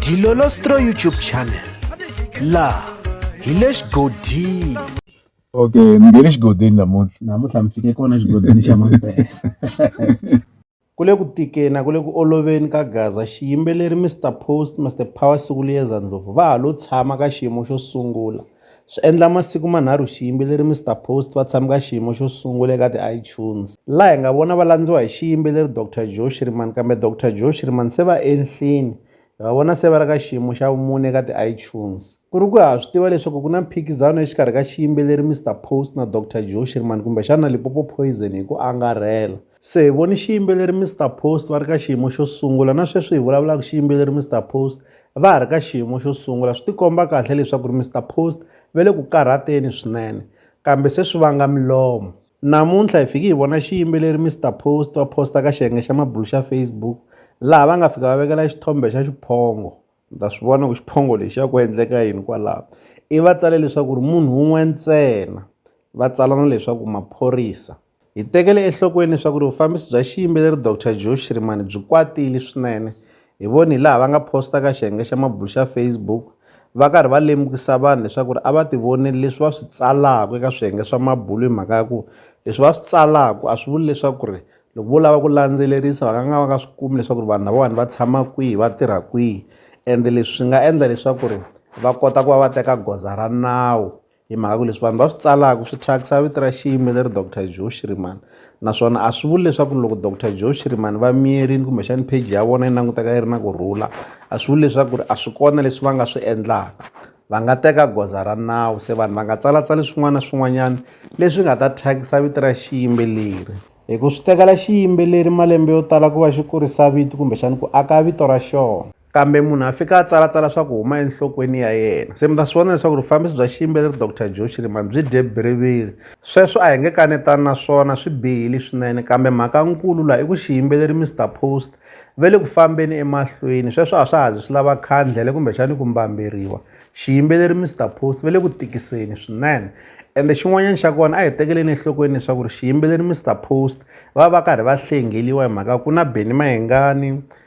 Dilolostro YouTube channel la hi le xigodini okay mi nge le xigodini namuntlha namuntlha mi fike kona xigodini xa mampela ku le ku tikeni a ku le ku oloveni ka gaza xiyimbeleri mr post mr power sikuliyeza ndlovu va ha lo tshama ka xiyimo xo sungula Swi endla masiku manharhu xiyimbeleri Mister Post va tshame ka xiyimo xo sungula eka ti-iTunes, laha hi nga vona va landziwa hi xiyimbeleri Doctor Joe Shirimani kambe Doctor Joe Shirimani se va enhlini, hi va vona se va ri ka xiyimo xa vumune eka ti-iTunes. Ku ri ku ha swi tiva leswaku ku na mphikizano exikarhi ka xiyimbeleri Mister Post na Doctor Joe Shirimani kumbexana Limpopo Poison hi ku angarhela. Se hi vone xiyimbeleri Mister Post va ri ka xiyimo xo sungula na sweswi hi vulavulaka xiyimbeleri Mister Post va ha ri ka xiyimo xo sungula swi tikomba kahle leswaku ri Mister Post va le ku karhateni swinene kambe se swi vanga milomo namuntlha hi fiki hi vona xiyimbeleri Mister Post va post-a ka xiyenge xa mabulo xa Facebook laha va nga fika va vekela xithombe xa xiphongo ni ta swi vona ku xiphongo lexi ya ku endleka yini kwalaho i va tsale leswaku ri munhu wun'we ntsena va tsala na leswaku maphorisa Hi tekele enhlokweni leswaku ri vufambisi bya xiyimbeleri Doctor Joe Shirimani byi kwatile swinene. Hi vone hilaha va nga posta ka xiyenge xa mabulo xa Facebook va karhi va lemukisa vanhu leswaku ri a va tivoneli leswi va swi tsalaka eka swiyenge swa mabulo hi mhaka ya ku leswi va swi tsalaka a swi vuli leswaku ri loko vo lava ku landzelerisa va nga nga va nga swi kumi leswaku ri vanhu lavawani va tshama kwihi va tirha kwihi ende leswi swi nga endla leswaku ri va kota ku va va teka goza ra nawu. Hi mhaka ku leswi vanhu va swi tsalaka swi thyakisa vito ra xiyimbeleri Doctor Joe Shirimani naswona a swi vuli leswaku loko Doctor Joe Shirimani va miyerile kumbexani page ya vona yi languteka yi ri na ku rhula a swi vuli leswaku ri a swi kona leswi va nga swi endlaka va nga teka goza ra nawu se vanhu va nga tsalatsali swin'wana na swin'wanyana leswi nga ta thyakisa vito ra xiyimbeleri hi ku swi tekela xiyimbeleri malembe yo tala ku va xi kurisa vito kumbexani ku aka vito ra xona. kambe munhu a fika a tsalatsala swa ku huma enhlokweni ya yena se mi ta swi vona leswaku rufambisi bya xiyimbeleri dr joe chirimani byi dye biriviri sweswo a hi nge kanetani na swona swi bihile swinene kambe mhaka nkulu laha i ku xiyimbeleri mr post ve le ku fambeni emahlweni sweswo a swa ha zi swi lava khandlele kumbexani ku mbamberiwa xiyimbeleri mr post ve le ku tikiseni swinene ende xin'wanyana xa kona a hi tekeleni enhlokweni leswaku ri xiyimbeleri mr post va va karhi va hlengeliwa hi mhaka ku na beni mayengani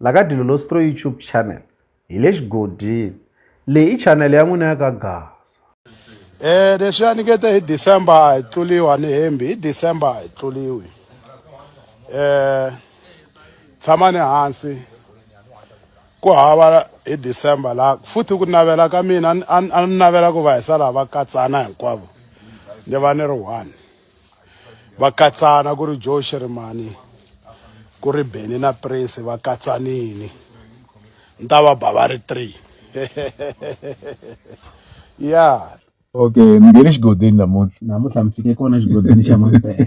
La ka Dilolostro YouTube channel hi le xigodini. Leyi i channel ya n'wina ya ka Gaza. E leswi a ni nge te hi December a hi tluliwa ni hembi hi December a hi tluliwi eh tshama ni hansi ku hava hi December la futhi ku navela ka mina a ni navela ku va hi sala va katsana hinkwavo ni va ni ri one va katsana ku ri joe shirimani ku ri beni na prince va katsanini ni ta va ba va ri three ya okay mi nghene xigodeni namuntlha namuntlha mi fike kona xigodeni xa mampela